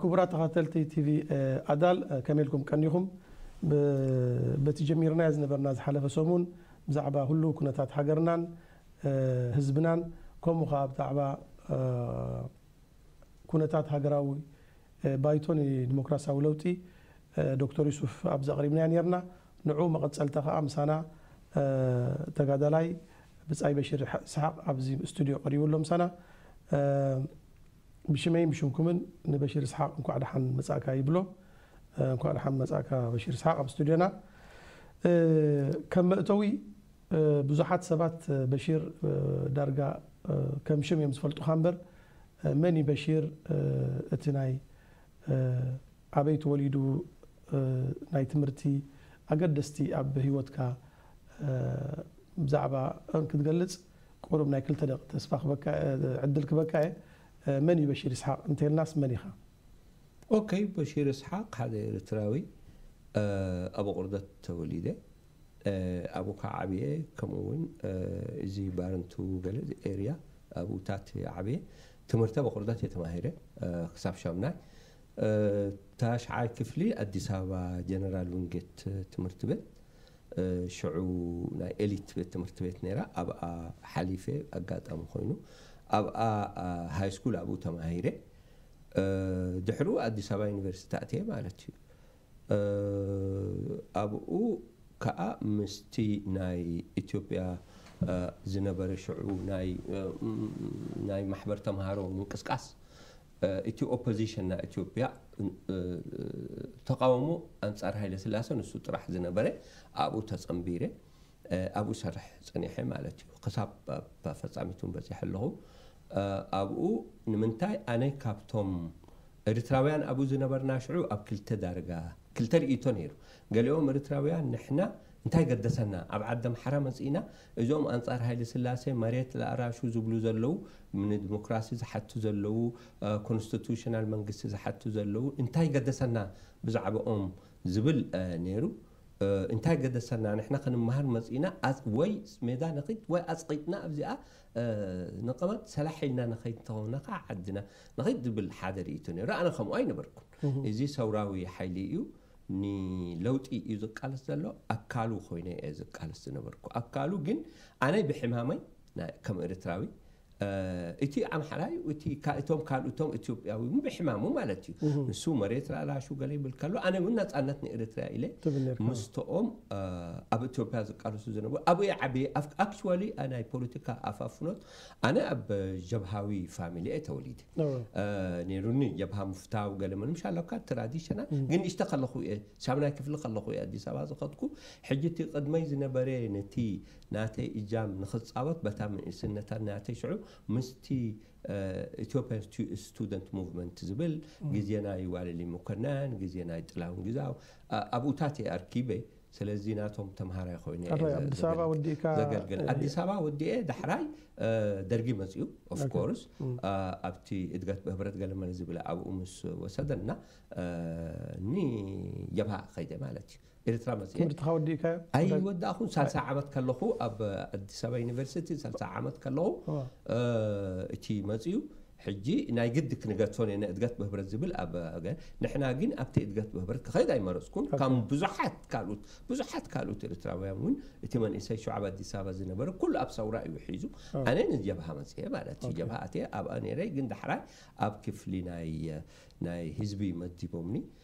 ክቡራት ተኸታተልቲ ቲቪ ኣዳል ከመይ ኢልኩም ቀኒኹም? በቲ ጀሚርናዮ ዝነበርና ዝሓለፈ ሰሙን ብዛዕባ ህሉው ኩነታት ሃገርናን ህዝብናን ከምኡ ከኣ ብዛዕባ ኩነታት ሃገራዊ ባይቶ ንዲሞክራስያዊ ለውጢ ዶክተር ዩሱፍ ኣብዚ ኣቕሪብናዮ ኔርና። ንዑ መቐጸልታ ከኣ ምሳና ተጋዳላይ ብጻይ በሽር ይስሓቕ ኣብዚ ስቱድዮ ቀሪቡ ኣሎ ምሳና። ብሽመይን ብሽምኩምን ንበሽር ይስሓቕ እንኳዕ ደሓን መጻእካ ይብሎ። እንኳዕ ደሓን መጻእካ በሽር ይስሓቕ ኣብ ስቱድዮና። ከም መእተዊ ብዙሓት ሰባት በሽር ዳርጋ ከም ሽም እዮም ዝፈልጡኻ እምበር መን እዩ በሽር እቲ ናይ ኣበይ ተወሊዱ ናይ ትምህርቲ ኣገደስቲ ኣብ ሂወትካ ብዛዕባ ክትገልጽ ቁሩብ ናይ ክልተ ደቂቅ ተስፋ ክበካ ዕድል ክበካ እየ መን እዩ በሺር ይስሓቅ እንተልናስ መን ኢካ። ኦከይ በሺር ይስሓቅ ሓደ ኤርትራዊ ኣብ ኣቁርደት ተወሊደ። ኣቡካ ዓብየ ከምኡ ውን እዚ ባረንቱ ገለ ኤርያ ኣብኡታት እየ ዓብየ ትምህርተ ብቅርበት እየ ተማሂረ ክሳብ ሻምናይ ታሽዓይ ክፍሊ ኣዲስ ኣበባ ጀነራል ዊንጌት ትምህርት ቤት ሽዑ ናይ ኤሊት ቤት ትምህርት ቤት ነይራ ኣብኣ ሓሊፈ ኣጋጣሚ ኮይኑ ኣብኣ ሃይ ስኩል ኣብኡ ተማሂረ ድሕሩ ኣዲስ ኣበባ ዩኒቨርሲቲ ኣትየ ማለት እዩ ኣብኡ ከኣ ምስቲ ናይ ኢትዮጵያ ዝነበረ ሽዑ ናይ ማሕበር ተማሃሮ ምንቅስቃስ፣ እቲ ኦፖዚሽን ናይ ኢትዮጵያ ተቓውሞ ኣንጻር ሃይለስላሰ ንሱ ጥራሕ ዝነበረ ኣብኡ ተጸንቢረ። ኣብኡ እሰርሕ ጸኒሐ ማለት እዩ ክሳብ ኣብ ፈጻሚት እውን በጺሐ ኣለኹ። ኣብኡ ንምንታይ ኣነ ካብቶም እሪትራውያን ኣብኡ ዝነበርና ሽዑ ኣብ ክልተ ዳርጋ ክልተ ርእይቶ ነይሩ ገሊኦም እሪትራውያን ንሕና እንታይ ገደሰና ኣብ ዓዲ ኣምሓራ መጺእና እዞም ኣንጻር ሃይለስላሴ መሬት ላኣራሹ ዝብሉ ዘለዉ ንድሞክራሲ ዝሓቱ ዘለዉ ኮንስቲቱሽናል መንግስቲ ዝሓቱ ዘለዉ እንታይ ገደሰና ብዛዕብኦም ዝብል ነይሩ። እንታይ ገደሰና ንሕና ክንመሃር መጺእና ወይ ሜዳ ንኺድ ወይ ኣጽቒጥና ኣብዚኣ ንቐመጥ ሰላሕ ኢልና ንኸይድ እንተኾና ከኣ ዓድና ንኺድ ዝብል ሓደ ርእይቶ ነይሩ ኣነ ከምኡ ኣይነበርኩን እዚ ሰውራዊ ሓይሊ እዩ ንለውጢ እዩ ዝቃለስ ዘሎ ኣካሉ ኮይነ እየ ዝቃለስ ዝነበርኩ ኣካሉ ግን ኣነ ብሕማመይ ከም ኤርትራዊ እቲ ኣምሓራይ እቲ እቶም ካልኡቶም ኢትዮጵያዊ ብሕማሙ ማለት እዩ ንሱ መሬት ላላሹ ገለ ይብል ከሎ ኣነ እውን ናፃነት ንኤርትርያ ኢለ ምስተኦም ኣብ ኢትዮጵያ ዝቃለሱ ዝነበሩ ኣብይ ዓብየ ኣክቹዋሊ ናይ ፖለቲካ ኣፋፍኖት ኣነ ኣብ ጀብሃዊ ፋሚሊ እየ ተወሊደ ነይሩኒ ጀብሃ ምፍታው ገለ ምንም ሻለካ ትራዲሽናል ግን ንእሽተ ከለኹ እየ ሳብናይ ክፍሊ ከለኹ እየ ኣዲስ ኣበባ ዝኸድኩ ሕጂ እቲ ቅድመይ ዝነበረ ነቲ ናተይ እጃም ንክጻወት በታ ንእስነታ ናተይ ሽዑ ምስቲ ኢትዮጵያን ስቱደንት ሙቭመንት ዝብል ግዜ ናይ ዋለልይ መኮነን ግዜ ናይ ጥላሁን ግዛው ኣብኡታት እየ ኣርኪበ ስለዚ ናቶም ተምሃራይ ኮይነ እየ ኣባይ ዘ- ኣዲስ ኣበባ ዘገልግ- ወዲእካ ዘገልግል ኣዲስ ኣበባ ወዲኤ ዳሕራይ እ፣ ደርጊ መፅኡ ኦፍኮርስ ኣብቲ እድገት ብህብረት ገለመለ ዝብል ኣብኡ ምስ ወሰደና እ፣ ንጀብሃ ከይደ ማለት እዩ ኤርትራ መጺኤ ትምህርትኻ ወዲእካዮ? ኣይወዳእኹን ሳልሳይ ዓመት ከለኹ ኣብ ኣዲስ ኣበባ ዩኒቨርሲቲ ሳልሳይ ዓመት ከለኹ እወ። እ፣ እቲ መጺኡ ሕጂ ናይ ግዲ ክንገድፎ ኔርና እድገት ብህብረት ዝብል ኣብ ገ ንሕና ግን ኣብቲ እድገት ብህብረት ክኸይድ ኣይመረጽኩን ከም ብዙሓት ካልኡት ብዙሓት ካልኡት ኤርትራውያን እውን እቲ መንእሰይ ሽዑ ኣብ ኣዲስ ኣበባ ዝነበረ ኩሉ ኣብ ሰውራ እዩ ሒዙ ኣነ ንጀብሃ መጺኤ ማለት እዩ ጀብሃ ኣትየ ኣብኣ ኔረ ግን ዳሕራይ ኣብ ክፍሊ ናይ ናይ ህዝቢ መዲቦምኒ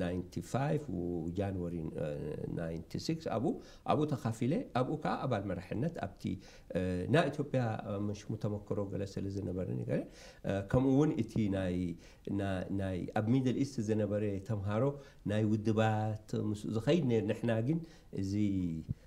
ናይንቲ ፋይቭ ጃንወሪ ናይንቲ ሲክስ ኣብኡ ኣብኡ ተኻፊለ ኣብኡ ከኣ ኣባል መራሕነት ኣብቲ ናይ ኢትዮጵያ ምሽሙ ተመክሮ ገለ ስለ ዝነበረኒ ገለ ከምኡ ውን እቲ ናይ ናይ ኣብ ሚድል ኢስት ዝነበረ ተምሃሮ ናይ ውድባት ምስ ዝኸይድ ነይር ንሕና ግን እዚ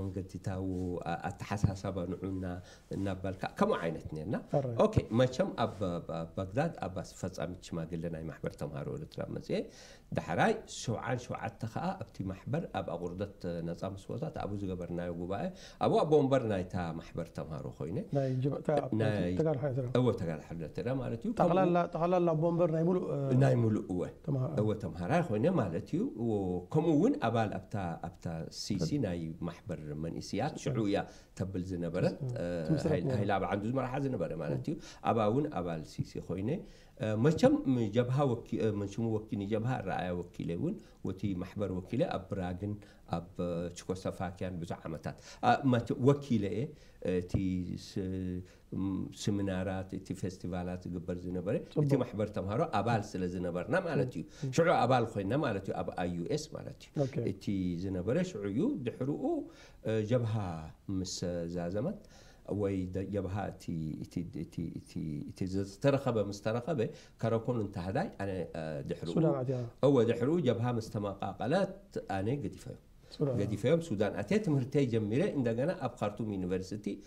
መንገዲታዊ ኣተሓሳሳባ ንዑና እናባልካ ከምኡ ዓይነት ኔርና ኣራይ። ኦኬ መቸም ኣብ ባግዳድ ኣብ ኣስፈጻሚት ሽማግለ ናይ ማሕበር ተማሃሮ ኤርትራ መጽየ ዳሕራይ ሰብዓን ሸውዓተ ከኣ ኣብቲ ማሕበር ኣብ ኣቑርደት ነጻ ምስወታት ኣብኡ ዝገበርናዮ ጉባኤ ኣብኡ ኣቦ ወንበር ናይታ ማሕበር ተማሃሮ ኮይነ ናይ ጅብ እታ ኣብ ናይ ተጋድሖ ኤርትራ እወ ተጋድሖ ኤርትራ ማለት እዩ ከምኡ ጠቕላላ ጠቕላላ ኣቦ ወንበር ናይ ምሉእ ናይ ምሉእ እወ ተማሃራይ። እወ ተምሃራይ ኾይነ ማለት እዩ ከምኡ ውን ኣባል ኣብታ ኣብታ ሲሲ ናይ ማሕበር መንእስያት ሽዑ እያ ተብል ዝነበረት ትምስረት ነይራ። ሃይለ ኣብ ዓንዱ ዝመርሓ ዝነበረ ማለት እዩ ኣብኣ ውን ኣባል ሲሲ ኾይነ መቸም ንጀብሃ ወኪ መን ሽሙ ወኪ ንጀብሃ ኣረኣእያ ወኪለ ውን ወቲ ማሕበር ወኪለ ኣብ ብራግን ኣብ ችኮሰፋኪያን ብዙሕ ዓመታት ኣ ማቸ ወኪለ እየ እቲ ስ ስሚናራት እቲ ፌስቲቫላት ዝግበር ዝነበረ እቲ ማሕበር ተምሃሮ ኣባል ስለ ዝነበርና ማለት እዩ ሽዑ ኣባል ኮይና ማለት እዩ ኣብ ኣይዩኤስ ማለት እዩ እቲ ዝነበረ ሽዑ እዩ ድሕርኡ ጀብሃ ምስ ዛዘመት ወይ ጀብሃ እቲ ዝተረኸበ ምስ ተረኸበ ከረኮን እንተህዳይ ኣነ ድሕርኡ እወ ድሕርኡ ጀብሃ ምስ ተመቃቀለት ኣነ ገዲፈዮ ገዲፈዮም ሱዳን ኣትየ ትምህርተይ ጀሚረ እንደገና ኣብ ካርቱም ዩኒቨርሲቲ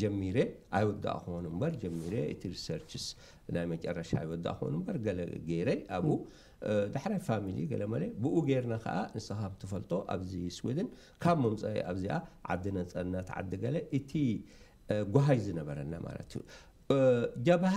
ጀሚረ ኣይወዳእክዎን እምበር ጀሚረ እቲ ሪሰርችስ ናይ መጨረሻ ኣይወዳእክዎን እምበር ገለ ገይረ ኣብኡ ዳሕራይ ፋሚሊ ገለ መለ ብኡ ገይርና ከዓ ንስኻ ከም ትፈልጦ ኣብዚ ስዊድን ካብ ምምፀኢ ኣብዚኣ ዓዲ ነፀነት ዓዲ ገለ እቲ ጓሃይ ዝነበረና ማለት እዩ ጀብሃ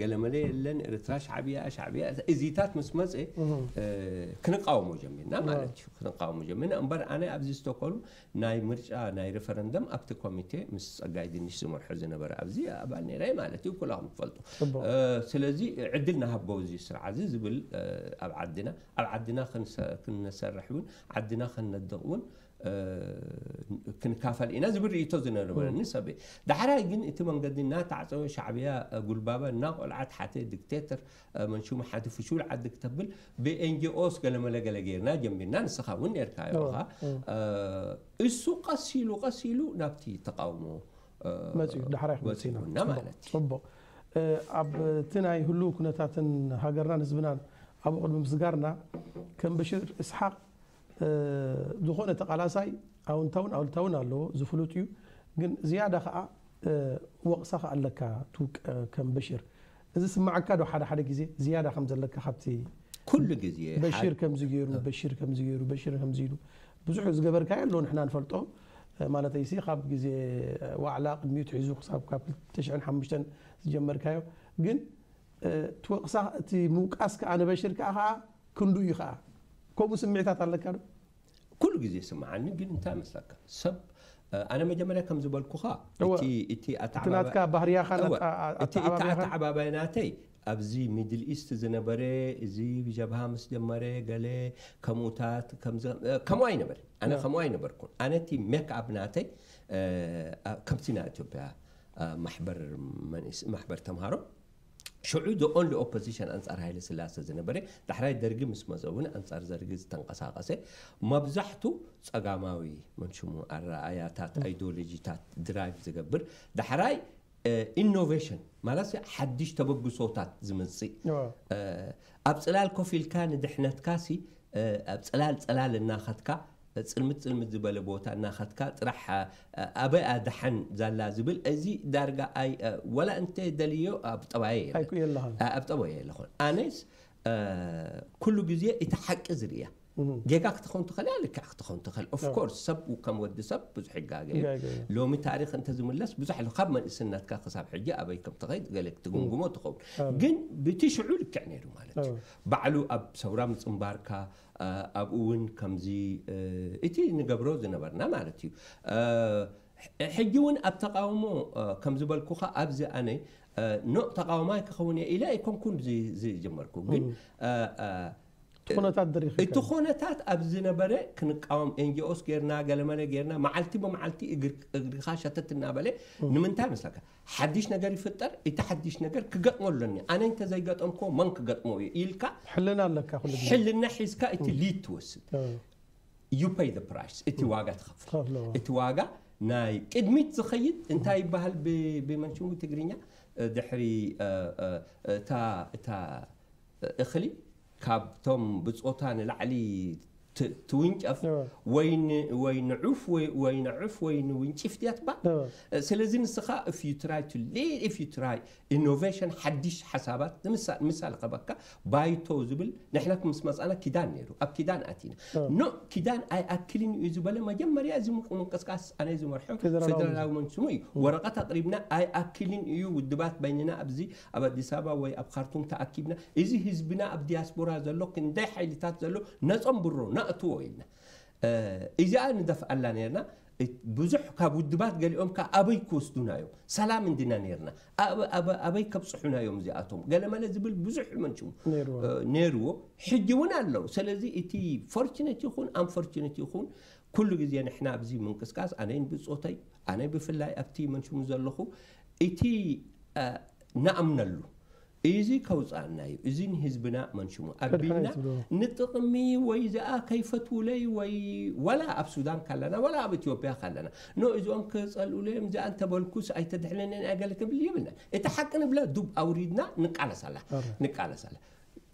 ገለመለ የለን ኤርትራ ሻዕብያ ሻዕብያ እዚታት ምስ መፀ ክንቃወሞ ጀሚርና ማለት እዩ ክንቃወሞ ጀሚርና እምበር ኣነ ኣብዚ ስቶኮልም ናይ ምርጫ ናይ ሪፈረንደም ኣብቲ ኮሚቴ ምስ ፀጋይ ድንሽ ዝመርሖ ዝነበረ ኣብዚ ኣባል ነይረ ማለት እዩ ኩላኹም ትፈልጡ ስለዚ ዕድል ንሃቦ እዚ ስርዓ እዚ ዝብል ኣብ ዓድና ኣብ ዓድና ክንሰርሕ እውን ዓድና ከነድቕ እውን ክንካፈል ኢና ዝብል ርእይቶ ዝነበረኒ ሰብ እየ ዳሕራይ ግን እቲ መንገዲ እናተዓፀወ ሻዕብያ ጉልባበ እናቆልዓት ሓተ ዲክቴተር መንሽሙ ሓቲ ፍሹል ዓዲ ክተብል ብኤንጂኦስ ገለመለገለ ገይርና ጀሚርና ንስኻ እውን ነርካ ኢኻ እሱ ቀስ ኢሉ ቀስ ኢሉ ናብቲ ተቃውሞ መፅኡ ዳሕራይ ክንፅና ማለት ፅቡቅ ኣብቲ ናይ ህሉው ኩነታትን ሃገርናን ህዝብናን ኣብኡ ቅድሚ ምስጋርና ከም በሽር እስሓቅ ዝኾነ ተቃላሳይ ኣውንታውን ኣሉታውን ኣለዎ ዝፍሉጥ እዩ ግን ዝያዳ ከኣ ወቅሳ ከኣ ኣለካ ትውቀ ከም በሽር እዚ ይስመዓካ ዶ ሓደ ሓደ ግዜ ዝያዳ ከም ዘለካ ካብቲ ኩሉ ግዜ በሽር ከምዚ ገይሩ በሽር ከምዚ ገይሩ በሽር ከምዚ ኢሉ ብዙሕ ዝገበርካዮ ኣሎ ንሕና ንፈልጦ ማለተይ ሲ ካብ ግዜ ዋዕላ ቅድሚኡ ትሒዙ ክሳብ ካብ 2005 ዝጀመርካዮ ግን ትወቅሳ እቲ ምውቃስ ከኣ ንበሽር ከኣ ከኣ ክንዱ እዩ ከኣ ከምኡ ስምዒታት ኣለካ ዶ? ኩሉ ግዜ ይስምዓኒ ግን እንታይ መስለካ ሰብ ኣነ መጀመርያ ከም ዝበልኩኻ እወ እቲ እቲ እቲ ኣተዓባባይ ናትካ ባህርያኻን እወ ኣተ- ኣ- እቲ እቲ ኣተዓባብያኻን ኣተዓባባይ ናተይ ኣብዚ ሚድል ኢስት ዝነበረ እዚ ጀብሃ ምስ ጀመረ ገለ ከምኡታት ከምዚ እ፣ ከምኡ ኣይነበረ ኣነ ያ። ከምኡ ኣይነበርኩን ኣነ እቲ ሜክ ኣፕ ናተይ እ፣ ኣ- ከምቲ ናይ ኢትዮጵያ እ፣ ማሕበር መንእስ ማሕበር ተምሃሮ ሽዑ the only opposition ኣንጻር ሃይለስላሰ ዝነበረ፣ ዳሕራይ ደርጊ ምስ መጸ እውን ኣንጻር ዘርጊ ዝተንቐሳቐሰ፣ ማብዛሕቱ ጸጋማዊ፣ መን ሽሙ፣ ኣረኣእያታት፣ ኣይዲዮሎጂታት፣ ድራይቭ ዝገብር፣ ዳሕራይ ኢኖቬሽን ማለትሲ ሓድሽ ተበግሶታት ዝምጽእ፣ ኣብ ጽላል ኮፍ ኢልካ ንድሕነትካሲ ኣብ ጽላል ጽላል እናኸትካ ጽልምት ጽልምት ዝበለ ቦታ እናኸድካ ጥራሕ ኣበይ'ያ ደሓን ዛላ ዝብል እዚ ዳርጋ ኣይ ዋላ እንተ ደልየዮ ኣብ ጠባየይ የለን ኣብ ጠባየይ የለኹን ኣነስ ኩሉ ግዜ እቲ ሓቂ ዝርእያ ጌጋ ክትኸውን ትኽእል እያ ልክዕ ክትኸውን ትኽእል ኦፍ ኮርስ ሰብ ከም ወዲ ሰብ ብዙሕ ይጋገ ሎሚ ታሪኽ እንተ ዝምለስ ብዙሕ ኣሎ ካብ መንእስነትካ ክሳብ ሕጂ ኣበይ ከም ትኸይድ ገለ ክትግምግሞ ትኸውን ግን ብቲ ሽዑ ልክዕ ነይሩ ማለት እዩ ባዕሉ ኣብ ሰውራ ምጽንባርካ ኣብኡ እውን ከምዚ እቲ ንገብሮ ዝነበርና ማለት እዩ ሕጂ እውን ኣብ ተቓውሞ ከም ዝበልኩኻ ኣብዚ ኣነ ኖእ ተቓዋማይ ክኸውን እየ ኢለ ኣይኮንኩን ዝጀመርኩ ግን እቲ ኹነታት ኣብ ዝነበረ ክንቃወም ኤንጂኦስ ጌርና ገለመለ ጌርና መዓልቲ ብመዓልቲ እግርካ ሸተት እናበለ ንምንታይ መስለካ ሓድሽ ነገር ይፍጠር እቲ ሓድሽ ነገር ክገጥሞ ኣሎኒ ኣነ እንተ ዘይገጠምክዎ መን ክገጥሞ እዩ ኢልካ ሕልና ኣለካ ኩሉ ግዜ ሕልና ሒዝካ እቲ ሊድ ትወስድ እ፣ you pay the price እቲ ዋጋ ትኸፍል ትኸፍሎ፣ እ። እቲ ዋጋ ናይ ቅድሚት ዝኸይድ እንታይ ይበሃል ብ- ብመንሽሙ ትግርኛ እ፣ ድሕሪ እ፣ እ፣ እታ እታ እኽሊ ካብቶም ብጾታ ንላዕሊ ትውንጨፍ ወይ ንዑፍ ወይ ንዑፍ ወይ ንውንጪፍ ድያ ትባል ስለዚ ንስኻ if you try to lead if you try innovation ሓዲሽ ሓሳባት ንምሳል ምሳል ከበካ ባይቶ ዝብል ንሕና ምስ መጻና ኪዳን ነይሩ ኣብ ኪዳን ኣቲና ኖ ኪዳን ኣይኣክልን እዩ ዝበለ መጀመርያ እዚ ምንቅስቃስ ኣነ ዝመርሖ ፌደራላዊ መንግስቲ ስሙ እዩ ወረቀት ኣቅሪብና ኣይኣክልን እዩ ውድባት በይንና ኣብዚ ኣብ ኣዲስ ኣበባ ወይ ኣብ ኻርቱም ተኣኪብና እዚ ህዝብና ኣብ ዲያስፖራ ዘሎ ክንደይ ሓይልታት ዘሎ ነጸንብሮ ነእትዎ ኢልና እዚኣ ንደፍኣላ ኔርና ብዙሕ ካብ ውድባት ገሊኦም ከኣ ኣበይ ክወስዱና እዮም ሰላም እንዲና ኔርና ኣበይ ከብጽሑና እዮም እዚኣቶም ገለመለ ዝብል ብዙሕ መንሹ ኔርዎ ሕጂ እውን ኣለዉ ስለዚ እቲ ፎርችነት ይኹን ኣንፎርችነት ይኹን ኩሉ ግዜ ንሕና ኣብዚ ምንቅስቃስ ኣነይን ብጾተይ ኣነ ብፍላይ ኣብቲ መንሽሙ ዘለኹ እቲ ንኣምነሉ እዚ ከውጽኣና እዩ እዚ ንህዝብና መንሽሙ ኣቢልና ንጥቕሚ ወይ ዝኣ ከይፈትውለይ ወይ ዋላ ኣብ ሱዳን ካለና ዋላ ኣብ ኢትዮጵያ ካለና ኖ እዚኦም ክጸልኡለይ እዮም ዝኣ እንተበልኩስ ኣይተድሕነንን ኣይገለ ክብል የብልና እቲ ሓቂ ንብላ ዱብ ኣውሪድና ንቃለሳላ ንቃለሳላ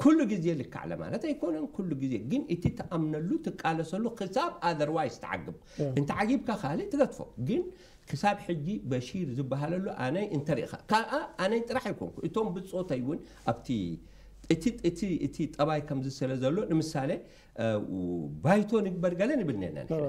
ኩሉ ግዜ ልክዕ ኣለ ማለት ኣይኮነን ኩሉ ግዜ ግን እቲ ትኣምነሉ ትቃለሰሉ ክሳብ ኣዘርዋይስ ትዓግብ እንተዓጊብካ ካልእ ትገትፎ ግን ክሳብ ሕጂ በሺር ዝበሃለሉ ኣነይ እንተሪእኻ ካኣ ኣነይ ጥራሕ ኣይኮንኩ እቶም ብጾተይ እውን ኣብቲ እቲ እቲ እቲ ጠባይ ከምዚ ስለ ዘሎ ንምሳሌ ባይቶ ንግበር ገለ ንብል ነና ንሕና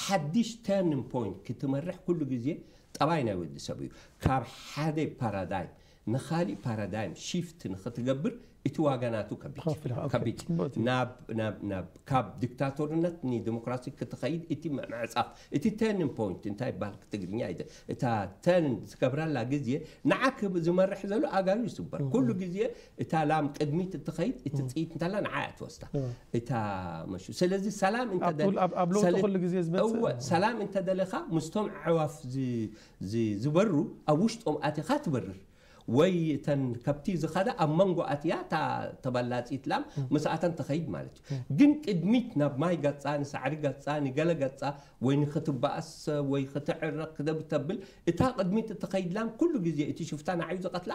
ሓድሽ ተርኒን ፖይንት ክትመርሕ ኩሉ ግዜ ጠባይ ናይ ወዲ ሰብ እዩ። ካብ ሓደ ፓራዳይም ንኻሊእ ፓራዳይም ሺፍት ንኽትገብር እቲ ዋጋ ናቱ ከቢድ እዩ። ከፍልኻ፣ ኦኬ፣ ከቢድ እዩ። ጽቡቕቲ። ናብ ናብ ናብ ካብ ዲክታቶርነት ንደሞክራሲ ክትኸይድ እቲ ም- ምዕጻፍ እቲ ተርኒን ፖይንት እንታይ ይበሃል ብትግርኛ ኣይደ እታ ተርን ዝገብራላ ግዜ ንዓክ ዝመርሕ ዘሎ ኣእጋሩ ይስበር ኩሉ ግዜ እታ ላም ቅድሚት እትኸይድ እትጽይት እንተላ ንዓ እያ ትወስዳ እታ መሹ ስለዚ ሰላም እንተ ኣብ ለውጢ ኩሉ ግዜ ዝመጽእ ሰላም እንተ ደለኻ ምስቶም ኣዕዋፍ ዝበሩ ኣብ ውሽጦም ኣቲኻ ትበርር ወይ እተን ከብቲ ዝኸዳ ኣብ መንጎ ኣትያ እታ ተበላጺት ላም ምስኣተን ትኸይድ ማለት እዩ ግን ቅድሚት ናብ ማይ ገጻ ንሳዕሪ ገጻ ንገለ ገጻ ወይ ንክትበኣስ ወይ ክትዕረቕ ክተብል እታ ቅድሚት እትኸይድ ላም ኩሉ ግዜ እቲ ሽፍታ ንዓዩ ዝቐትላ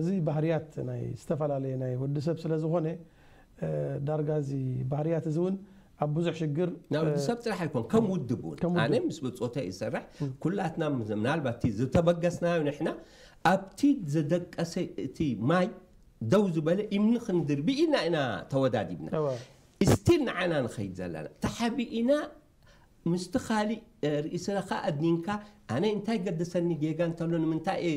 እዚ ባህርያት ናይ ዝተፈላለየ ናይ ወዲ ሰብ ስለ ዝኾነ ዳርጋ እዚ ባህርያት እዚ እውን ኣብ ብዙሕ ሽግር ናይ ወዲ ሰብ ጥራሕ ኣይኮን ከም ውድብ እውን ከም ውድብ። ኣነ ምስ ብጾተይ ይሰርሕ ኩላትና ምስ- ምናልባት እቲ ዝተበገስናዮ ንሕና ኣብቲ ዝደቀሰ እቲ ማይ ደው ዝበለ እምኒ ክንድርቢ ኢልና ኢና ተወዳዲብና እወ። ስቲል ንዓና ንኸይድ ዘለና ተሓቢእና ምስቲ ካልእ ርእስኻ ኣድኒንካ ኣነ እንታይ ገደሰኒ ጌጋ እንተሎ ንምንታይ እየ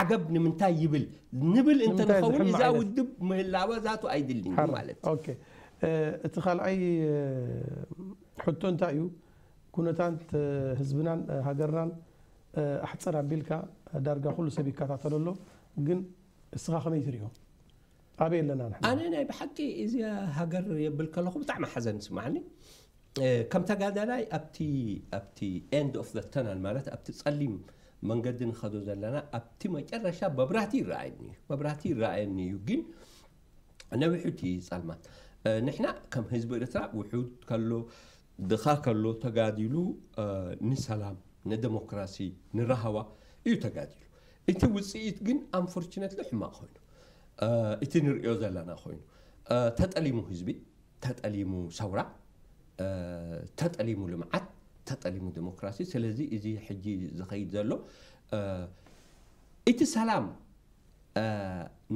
ዓገብ ንምንታይ ይብል ንብል እንተ ንምንታይ ንኸውን ዝሕመ እዛ ዓይነት? ውድብ ምህላዋ ዛቱ ኣይድልን እዩ ሓራ ማለት እዩ። ኦኬ እ፣ እቲ ካልኣይ እ፣ ሕቶ እንታይ እዩ ኩነታት እ፣ ህዝብናን እ፣ ሃገርናን እ፣ ኣሕፅር ኣቢልካ እ፣ ዳርጋ ኩሉ ሰብ ይከታተሎ ኣሎ ግን እስኻ ከመይ ትሪኦ? ኣበይ ኣለና ንሕና? ኣነ ናይ ብሓቂ እዚኣ ሃገር የብል ከለኹ ብጣዕሚ ሓዘን ይስማዓኒ ከም ተጋዳላይ ኣብቲ ኣብቲ ኤንድ ኦፍ ዘ ተናል ማለት ኣብቲ ጸሊም መንገዲ ንኸዶ ዘለና ኣብቲ መጨረሻ መብራህቲ ይረኣየኒ እዩ መብራህቲ ይረኣየኒ እዩ ግን ነዊሑ እቲ ጸልማት ንሕና ከም ህዝቢ ኤርትራ ውሑድ ከሎ ድኻ ከሎ ተጋዲሉ ንሰላም ንደሞክራሲ ንራህዋ እዩ ተጋዲሉ እቲ ውጽኢት ግን ኣንፎርችነትሊ ሕማቕ ኮይኑ እቲ ንርእዮ ዘለና ኮይኑ ተጠሊሙ ህዝቢ ተጠሊሙ ሰውራ ተጠሊሙ ልምዓት ተጠሊሙ ዲሞክራሲ ስለዚ እዚ ሕጂ ዝኸይድ ዘሎ እቲ ሰላም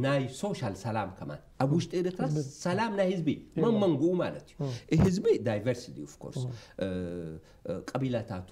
ናይ ሶሻል ሰላም ከማን ኣብ ውሽጢ ኤርትራ ሰላም ናይ ህዝቢ መመንግኡ ማለት እዩ ህዝቢ ዳይቨርሲቲ ኦፍኮርስ ቀቢላታቱ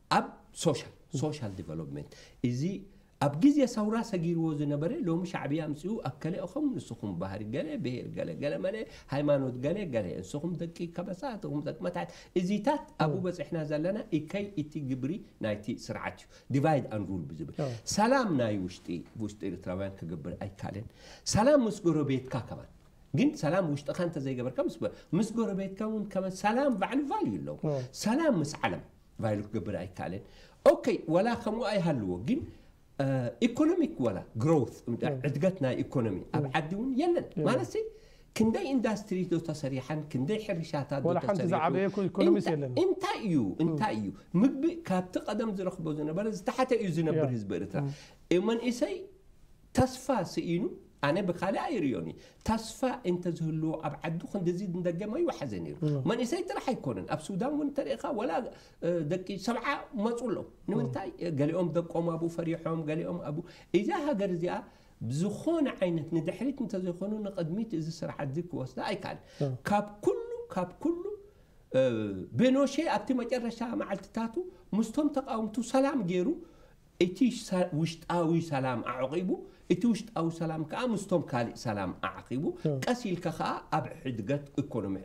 ኣብ ሶሻል Social Development እዚ ኣብ ግዜ ሰውራ ሰጊርዎ ዝነበረ ሎሚ ሻዕብያ ኣምጺኡ ኣከለ እኹም ንስኹም ባህሪ ገለ ብሄር ገለ ገለመለ ሃይማኖት ገለ ገለ እንስኹም ደቂ ከበሳ እትኹም ደቂ መታሕት እዚታት ኣብኡ በጺሕና ዘለና እከይ እቲ ግብሪ ናይቲ ስርዓት እዩ ዲቫይድ ኣን ሩል ብዝብል ሰላም ናይ ውሽጢ ብውሽጢ ኤርትራውያን ክገብር ኣይካልን ሰላም ምስ ጎረቤትካ ከማን ግን ሰላም ውሽጥኻ እንተዘይገበርካ ምስ ጎረቤትካ እውን ከማን ሰላም ባዕሉ ቫልዩ ኣለዎ ሰላም ምስ ዓለም ቫይሉ ክገብር ኣይከኣለን ኦከ ዋላ ከምኡ ኣይሃልዎ ግን ኢኮኖሚክ ዋላ ግሮውት ዕድገት ናይ ኢኮኖሚ ኣብ ዓዲ እውን የለን ማለት ክንደይ ኢንዳስትሪ ዶ ተሰሪሓን ክንደይ ሕርሻታት ዶ ተሰሪሑ እንታይ እዩ እንታይ እዩ ምግቢ ካብቲ ቀደም ዝረኽቦ ዝነበረ ዝተሓተ እዩ ዝነብር ህዝቢ ኤርትራ መንእሰይ ተስፋ ስኢኑ ኣነ ብካልእ ኣይርእዮን እየ ተስፋ እንተዝህልዎ ኣብ ዓዱ ክንድዚ ንደገ መይወሓዘ ነይሩ መንእሰይ ጥራሕ ኣይኮነን ኣብ ሱዳን ውን እንተሪእኻ ወላ ደቂ ሰብዓ መፁ ኣለው ንምንታይ ገሊኦም ደቆም ኣብኡ ፈሪሖም ገሊኦም ኣብኡ እዛ ሃገር እዚኣ ብዝኾነ ዓይነት ንድሕሪት እንተዘይኮኑ ንቕድሚት እዚ ስርዓት እዚ ክወስዳ ኣይከኣልን ካብ ኩሉ ካብ ኩሉ ቤኖሼ ኣብቲ መጨረሻ መዓልትታቱ ምስቶም ተቃውምቱ ሰላም ገይሩ እቲ ውሽጣዊ ሰላም ኣዕቂቡ፣ እቲ ውሽጣዊ ሰላም ከኣ ምስቶም ካልእ ሰላም ኣዕቂቡ፣ ቀስ ኢልካ ከኣ ኣብ ሕድገት ኢኮኖሚ፣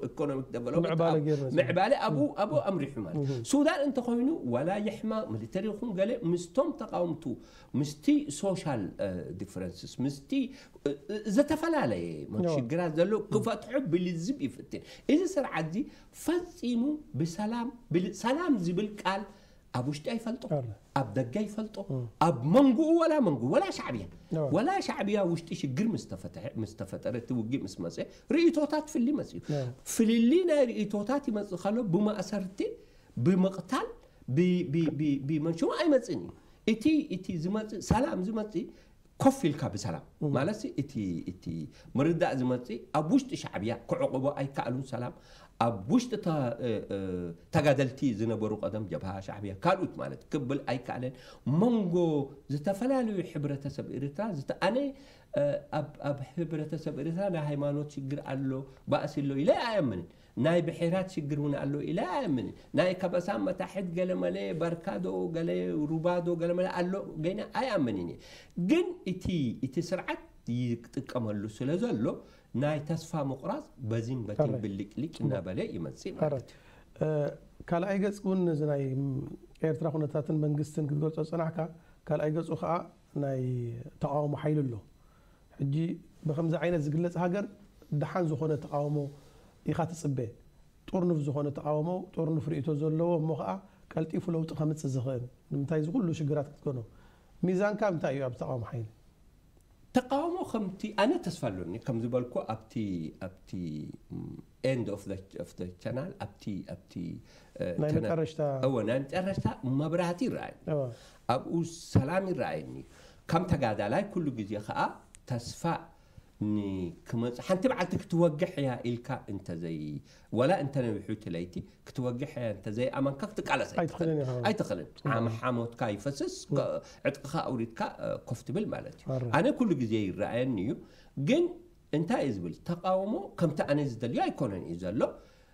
ኢኮኖሚክ ደቨሎፕመንት፣ ኣብ ምዕባለ ኣብኡ ኣምሪሑ ማለት እዩ። ሱዳን እንተኾይኑ ዋላ ይሕመቕ፣ ሚሊተሪ ይኹን ገለ፣ ምስቶም ተቓወምቱ፣ ምስቲ ሶሻል ዲፍረንስስ፣ ምስቲ ዝተፈላለየ ሽግራት ዘለዉ ክፈትሖ ብልዝብ ይፍትን። እዚ ስርዓትዚ ፈጺሙ ብሰላም፣ ሰላም ዝብል ቃል ኣብ ውሽጢ ኣይፈልጦ ኣብ ደገ ኣይፈልጦ ኣብ መንጉኡ ወላ መንጉ ወላ ሻዕብያ ወላ ሻዕብያ ውሽጢ ሽግር ምስ ተፈጠረ እቲ ውግእ ምስ መፀ ርእቶታት ፍሊ መፅዩ ፍልሊ ናይ ርእቶታት ይመፅእ ከሎ ብማእሰርቲ ብምቕታል ብመንሽሙ ኣይመፅእን እዩ እቲ እቲ ዝመፅእ ሰላም ዝመፅእ ኮፍ ኢልካ ብሰላም ማለትሲ እቲ እቲ ምርዳእ ዝመጽእ ኣብ ውሽጢ ሻዕብያ ክዕቕቦ ኣይከኣሉን ሰላም ኣብ ውሽጢ ተ ተጋደልቲ ዝነበሩ ቀደም ጀብሃ ሻዕብያ ካልኡት ማለት ክብል ኣይከኣለን መንጎ ዝተፈላለዩ ሕብረተሰብ ኤርትራ ዝተ ኣነ ኣብ ኣብ ሕብረተሰብ ኤርትራ ናይ ሃይማኖት ሽግር ኣሎ ባእሲ ኣሎ ኢለ ኣይኣምንን ናይ ብሔራት ሽግር እውን ኣሎ ኢለ ኣይኣምንን ናይ ከበሳ መታሕት ገለመለ ባርካ ዶ ገለ ሩባ ዶ ገለመለ ኣሎ ገይነ ኣይኣምንን እየ ግን እቲ እቲ ስርዓት ይጥቀመሉ ስለ ዘሎ ናይ ተስፋ ምቑራፅ በዚን በቲን ሕራይ ብልጭልጭ እሞ እናበለ ይመፅእ ማለት እዩ። ሕራይ ካልኣይ ገፅ እውን ነዚ ናይ ኤርትራ ኩነታትን መንግስትን ክትገልፆ ዝፀናሕካ ካልኣይ ገፁ ከዓ ናይ ተቓውሞ ሓይሊ ኣሎ ሕጂ ብኸምዚ ዓይነት ዝግለጽ ሃገር ደሓን ዝኾነ ተቓውሞ ኢኻ ትጽበ። ጥርኑፍ ዝኾነ ተቓውሞ፣ ጥርኑፍ ርእይቶ ዘለዎ እሞ ኸኣ ቀልጢፉ ለውጢ ከምጽእ ዝኽእል። ንምንታይ እዚ ኩሉ ሽግራት ክትገኖ? ሚዛንካ እንታይ እዩ ኣብዚ ተቓውሞ ሓይሊ? ተቓውሞ ከምቲ ኣነ ተስፋ ኣሎኒ ከም ዝበልኩ ኣብቲ ኣብቲ ኤንድ ኦፍ ዘ ኦፍ ዘ ቻናል ኣብቲ ኣብቲ ናይ ቻናል መጠረሽታ እወ ናይ መጠረሽታ መብራህቲ ይረኣይ እወ ኣብኡ ሰላም ይረኣየኒ እዩ ከም ተጋዳላይ ኩሉ ግዜ ከኣ ተስፋ ን ክመጽእ ሓንቲ መዓልቲ ክትወግሕ እያ ኢልካ እንተዘይ ወላ እንተነዊሑ እቲ ለይቲ ክትወግሕ እያ እንተዘይ ኣመንካ ክትቃለስ ኣይትኽእልን ኣይትኽእልን ኢኻ። ኣይትኽእልን ዓም ሓሞትካ ይፈስስ ከ- ዕጥቅኻ ኣውሪድካ እ፣ ኮፍ ትብል ማለት እዩ ኣረ። ኣነ ኩሉ ግዜ ይረኣየኒ እዩ ግን እንታይ እዩ ዝብል ተቃውሞ ከምቲ ኣነ ዝደልዮ ኣይኮነን እዩ ዘሎ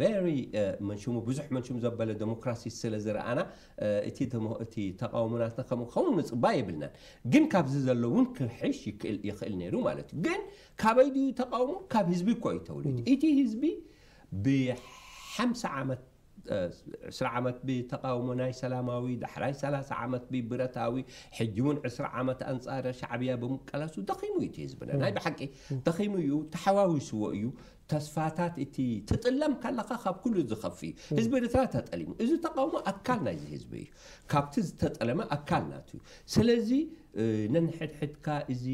ቨሪ መን ሽሙ ብዙሕ መን ሽሙ ዘበለ ደሞክራሲ ስለ ዝረኣና እቲ ደሞ እቲ ተቓውሞ ናትና ከምኡ ክኸውን ንጽባ የብልናን። ግን ካብዚ ዘሎ እውን ክሕሽ ይክእል ይኽእል ነይሩ ማለት እዩ። ግን ካበይ ድዩ ተቓውሞ? ካብ ህዝቢ እኮ እዩ ተወሊዱ። እቲ ህዝቢ ብሓምሳ ዓመት ዕስራ ዓመት ብተቓውሞ ናይ ሰላማዊ ዳሕራይ ሰላሳ ዓመት ብብረታዊ ሕጂ እውን ዕስራ ዓመት ኣንጻር ሻዕብያ ብምቀላሱ ደኺሙ እዩ እቲ ህዝብና ናይ ብሓቂ ደኺሙ እዩ ተሓዋዊስዎ እዩ ተስፋታት እቲ ትጥለም ካለኻ ካብ ኩሉ ዝኸፍ እዩ። ህዝቢ ኤርትራ ተጠሊሙ። እዚ ተቃውሞ ኣካል ናይዚ ህዝቢ እዩ። ካብቲ ዝተጠለመ ኣካል ናቱ እዩ። ስለዚ ነንሕድሕድካ እዚ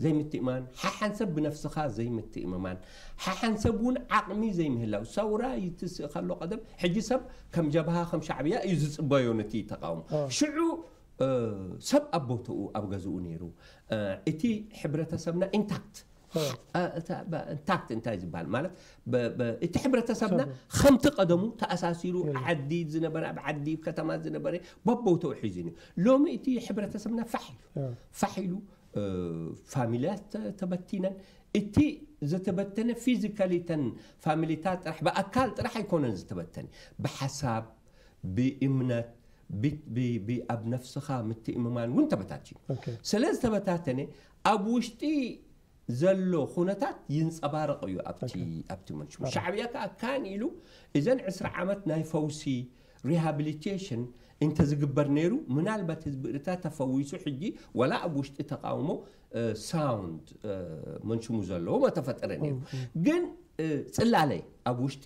ዘይምትእምማን፣ ሓሓንሰብ ብነፍስኻ ዘይምትእምማን፣ ሓሓንሰብ እውን ዓቕሚ ዘይምህላው፣ ሰውራ ይትስእ ከሎ ቀደም ሕጂ ሰብ ከም ጀብሃ ከም ሻዕብያ እዩ ዝጽበዮ ነቲ ተቃውሞ። ሽዑ ሰብ ኣብ ቦትኡ ኣብ ገዝኡ ነይሩ። እቲ ሕብረተሰብና ኢንታክት። ታክት እንታይ ዝበሃል ማለት እቲ ሕብረተሰብና ከምቲ ቀደሙ ተኣሳሲሩ ዓዲ ዝነበረ ኣብ ዓዲ ከተማ ዝነበረ በቦተው ሒዙ እዩ ሎሚ እቲ ሕብረተሰብና ፋሕ ኢሉ ፋሕ ኢሉ ፋሚልያት ተበቲነን እቲ ዝተበተነ ፊዚካሊ ተን ፋሚሊታት ጥራሕ ብኣካል ጥራሕ ኣይኮነን ዝተበተነ ብሓሳብ ብእምነት ኣብ ነፍስኻ ምትእምማን እውን ተበታትዩ ስለ ዝተበታተነ ኣብ ውሽጢ ዘሎ ኩነታት ይንጸባረቕ እዩ ኣብቲ ኣብቲ መንሽሙ ሻዕብያ ከኣ ካን ኢሉ እዘን ዕስራ ዓመት ናይ ፈውሲ ሪሃብሊቴሽን እንተ ዝግበር ነይሩ ምናልባት ህዝቢ እርትራ ተፈዊሱ ሕጂ ወላ ኣብ ውሽጢ ተቃውሞ ሳውንድ መንሽሙ ዘለዎ መተፈጠረ ነይሩ ግን ጽላለ ኣብ ውሽጢ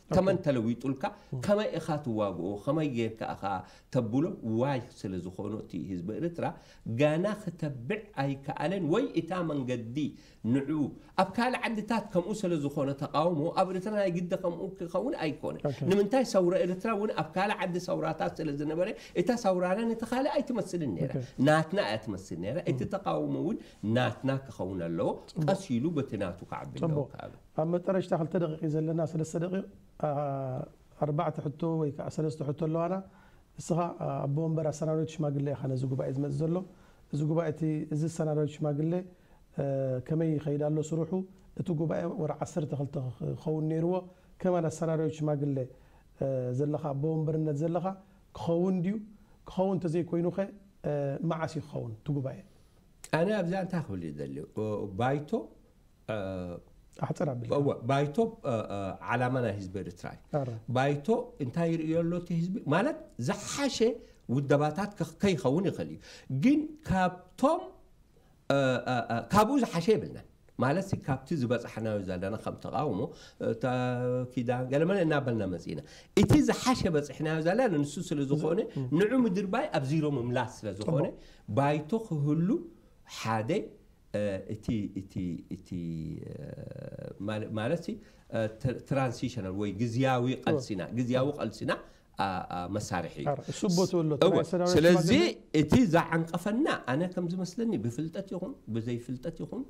ተመን ተለዊጡልካ ከመይ ኢኻ ትዋግኦ ከመይ ጌርካ ኢኻ ተብሎ ዋይ ስለ ዝኾኑ እቲ ህዝቢ ኤርትራ ገና ክተብዕ ኣይከኣለን ወይ እታ መንገዲ ንዑ ኣብ ካልእ ዓድታት ከምኡ ስለ ዝኾነ ተቓውሞ ኣብ ኤርትራ ናይ ግዲ ከምኡ ክኸውን ኣይኮነ ንምንታይ ሰውራ ኤርትራ እውን ኣብ ካልእ ዓዲ ሰውራታት ስለ ዝነበረ እታ ሰውራና ነቲ ካልእ ኣይትመስልን ነይራ ናትና እያ ትመስል ነይራ እቲ ተቓውሞ እውን ናትና ክኸውን ኣለዎ ቀስ ኢሉ በቲ ናቱ ክዓቢ ኣለዎ ኣብ መጠረሽታ ክልተ ደቂቅ እዩ ዘለና ሰለስተ ደቂቅ ኣርባዕተ ሕቶ ወይ ከኣ ሰለስተ ሕቶ ኣለዋና ንስኻ ኣቦ ወንበር ኣሰናዳዊት ሽማግለ ኢኻ ነዚ ጉባኤ ዝመጽእ ዘሎ እዚ ጉባኤ እቲ እዚ ኣሰናዳዊት ሽማግለ ከመይ ይኸይድ ኣሎ ስርሑ እቲ ጉባኤ ወርሒ ዓሰርተ ክልተ ክኸውን ኔርዎ ከማን ኣሰናዳዊት ሽማግለ ዘለኻ ኣቦ ወንበርነት ዘለኻ ክኸውን ድዩ ክኸውን እንተዘይኮይኑኸ መዓስ እዩ ክኸውን እቲ ጉባኤ ኣነ ኣብዚኣ እንታይ ክብል እየ ዝደሊ ባይቶ ኣሕጽር ኣቢልካ። እወ ባይቶ እ፣ እ፣ ዓላማ ናይ ህዝቢ ኤርትራ እዩ ኣረ። ባይቶ እንታይ ይርእዮ ኣሎ እቲ ህዝቢ ማለት ዝሓሸ ውደባታት ከ- ከይኸውን ይኽእል እዩ ግን ካብቶም እ፣ እ፣ እ፣ ካብኡ ዝሓሸ የብልናን ማለት ሲ ካብቲ ዝበፃሕናዮ ዘለና ከም ተቃውሞ እታ ኪዳን ገለመለ እናበልና መፂና እቲ ዝሓሸ በፂሕናዮ ዘለና ንሱ ስለ ዝኾነ ንዑ ምድርባይ ኣብ ዚሮ ምምላስ ስለ ዝኾነ ባይቶ ክህሉ ሓደ እቲ እቲ እቲ ማለትሲ ትራንሲሽናል ወይ ግዝያዊ ቐልሲና ግዝያዊ ቐልሲና መሳርሒ እዩ። ኣረ እሱ ቦትኡ ኣሎ እቲ ናይ እወ ኣሰናባሪ ስለዚ ሽማግለ እቲ ዝዓንቀፈና ኣነ ከም ዝመስለኒ ብፍልጠት ይኹን ብዘይፍልጠት ይኹን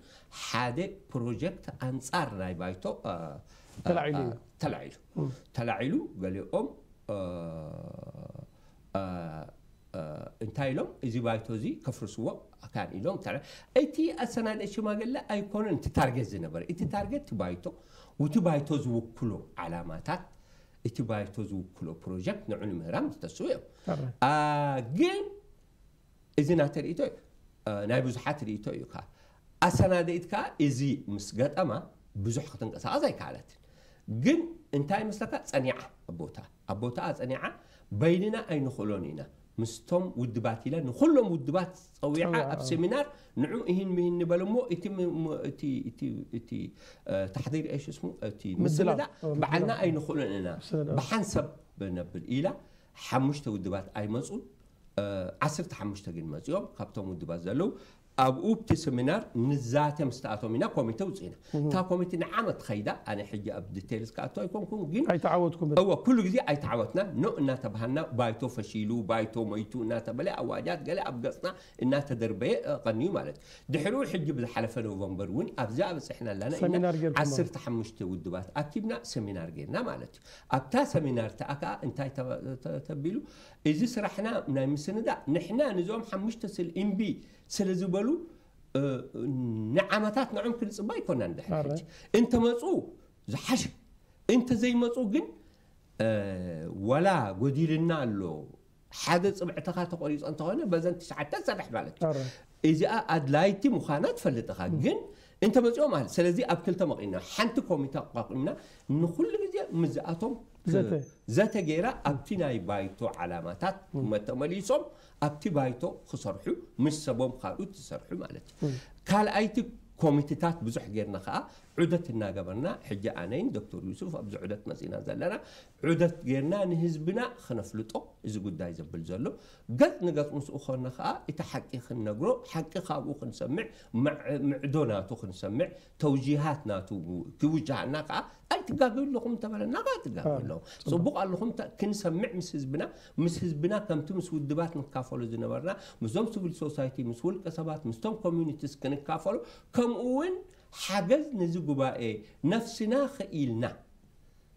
ሓደ ፕሮጀክት ኣንጻር ናይ ባይቶ እ፣ እ፣ ተላዒሉ እ፣ እዩ። ተላዒሉ ተላዒሉ ገሊኦም እ፣ እንታይ ኢሎም እዚ ባይቶ እዚ ከፍርስዎ ካን ኢሎም ታዲያ እቲ ኣሰናዳኢ ሽማግለ ኣይኮነን እቲ ታርጌት ዝነበረ እቲ ታርጌት እቲ ባይቶ ውቲ ባይቶ ዝውክሎ ዓላማታት እቲ ባይቶ ዝውክሎ ፕሮጀክት ንዑ ንምህራም ዝተስኡ እዮም ግን እዚ ናተይ ርእይቶ እዩ ናይ ብዙሓት ርእይቶ እዩ ከኣ። ኣሰናዳኢት ከኣ እዚ ምስ ገጠማ ብዙሕ ክትንቀሳቐስ ኣይከኣለትን። ግን እንታይ ይመስለካ ጸኒዓ ኣብ ቦትኣ ኣብ ቦትኣ ጸኒዓ በይንና ኣይንኽእሎን ኢና ምስቶም ውድባት ኢላ ንኹሎም ውድባት ጸዊዓ ኣብ ሴሚናር ንዑ እሂን ምሂን ንበል እሞ እቲ ታሕዲር እየ ሽስሙ እቲ ምስልላ በዓልና ኣይንኽእሎን ኢና ብሓንሰብ ነብል ኢላ ሓሙሽተ ውድባት ኣይመጹን ዓስርተ ሓሙሽተ ግን መጺኦም ካብቶም ውድባት ዘለዉ ኣብኡ ብቲ ሰሚናር ንዛተ ምስ ተኣቶም ኢና ኮሚቴ ውፅኢና እታ ኮሚቴ ንዓመት ኸይዳ ኣነ ሕጂ ኣብ ዲቴይልስ ክኣቶ ኣይኮንኩን ግን ኣይተዓወትኩምን እወ ኩሉ ግዜ ኣይተዓወትና ኖ እናተባሃልና ባይቶ ፈሺሉ ባይቶ ሞይቱ እናተበለ ኣዋጃት ገለ ኣብ ገፅና እናተደርበየ ቐንዩ ማለት እዩ ድሕሪኡ ሕጂ ብዝሓለፈ ኖቨምበር እውን ኣብዛ በፅሕና ኣላና ኢና ዓሰርተ ሓሙሽተ ውድባት ኣኪብና ሰሚናር ጌርና ማለት እዩ ኣብታ ሰሚናር እቲኣ ከኣ እንታይ ተቢሉ፣ እዚ ስራሕና ናይ ምስንዳእ ንሕና ንዞም ሓሙሽተ ስል ኢምቢ ስለ ዝበሉ ንዓመታት ንዕም ክንጽበ ኣይኮናን ድሕሪ ሕጂ እንተመጹ ዝሓሸ እንተዘይመጹ ግን ዋላ ጎዲልና ኣሎ ሓደ ጽብዕትኻ ተቆሪጹ እንተኾነ በዘን ትሽዓተ ሰርሕ ማለት እዩ ኣረ እዚኣ ኣድላይቲ ምዃና ትፈልጥ ኢኻ ግን እንተመጺኦም ኣል ስለዚ ኣብ ክልተ መቒና ሓንቲ ኮሚተ ኣቋቒምና ንኹሉ ግዜ ምስዚኣቶም ክ- ዘተ። ዘተ ገይራ ኣብቲ ናይ ባይቶ ዓላማታት መተመሊሶም ኣብቲ ባይቶ ክሰርሑ ምስ ሰቦም ካልኡት ዝሰርሑ ማለት እዩ ካልኣይቲ ኮሚትታት ብዙሕ ጌርና ከኣ ዑደት እናገበርና ሕጂ ኣነይን ዶክተር ዩሱፍ ኣብዚ ዑደት መጺና ዘለና ዑደት ጌርና ንህዝብና ክነፍልጦ እዚ ጉዳይ ዘብል ዘሎ ገጽ ንገጽ ምስኡ ኮና ከኣ እቲ ሓቂ ክንነግሮ ሓቂ ካብኡ ክንሰምዕ ምዕዶ ናቱ ክንሰምዕ ተውጂሃት ናቱ ክውጃሃና ከኣ ኣይትጋገዩ ኣለኹም እንተበለና ከኣ ትጋገዩ ኣለኹም ጽቡቕ ኣለኹም ክንሰምዕ ምስ ህዝብና ምስ ህዝብና ከምቲ ምስ ውድባት ንካፈሎ ዝነበርና ምስዞም ሲቪል ሶሳይቲ ምስ ውልቀ ሰባት ምስቶም ኮሚኒቲስ ክንካፈሎ ከምኡ እውን ሓገዝ ነዚ ጉባኤ ነፍስና ክኢልና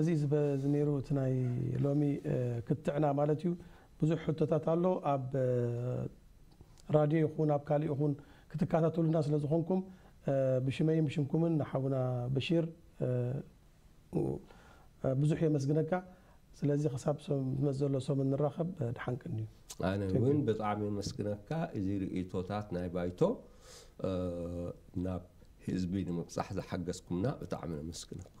እዚ ዝበዝ ነይሩ እቲ ናይ ሎሚ ክትዕና ማለት እዩ ብዙሕ ሕቶታት ኣሎ ኣብ ራድዮ ይኹን ኣብ ካሊእ ይኹን ክትካታተሉና ስለ ዝኾንኩም ብሽመይን ብሽምኩምን ንሓውና በሺር ብዙሕ የመስግነካ ስለዚ ክሳብ ዝመጽእ ዘሎ ሰሙን ንራኸብ ድሓን ቀንዩ። ኣነ እውን ብጣዕሚ የመስግነካ እዚ ርእይቶታት ናይ ባይቶ ናብ ህዝቢ ንምብጻሕ ዝሓገዝኩምና ብጣዕሚ ነመስግነኩም።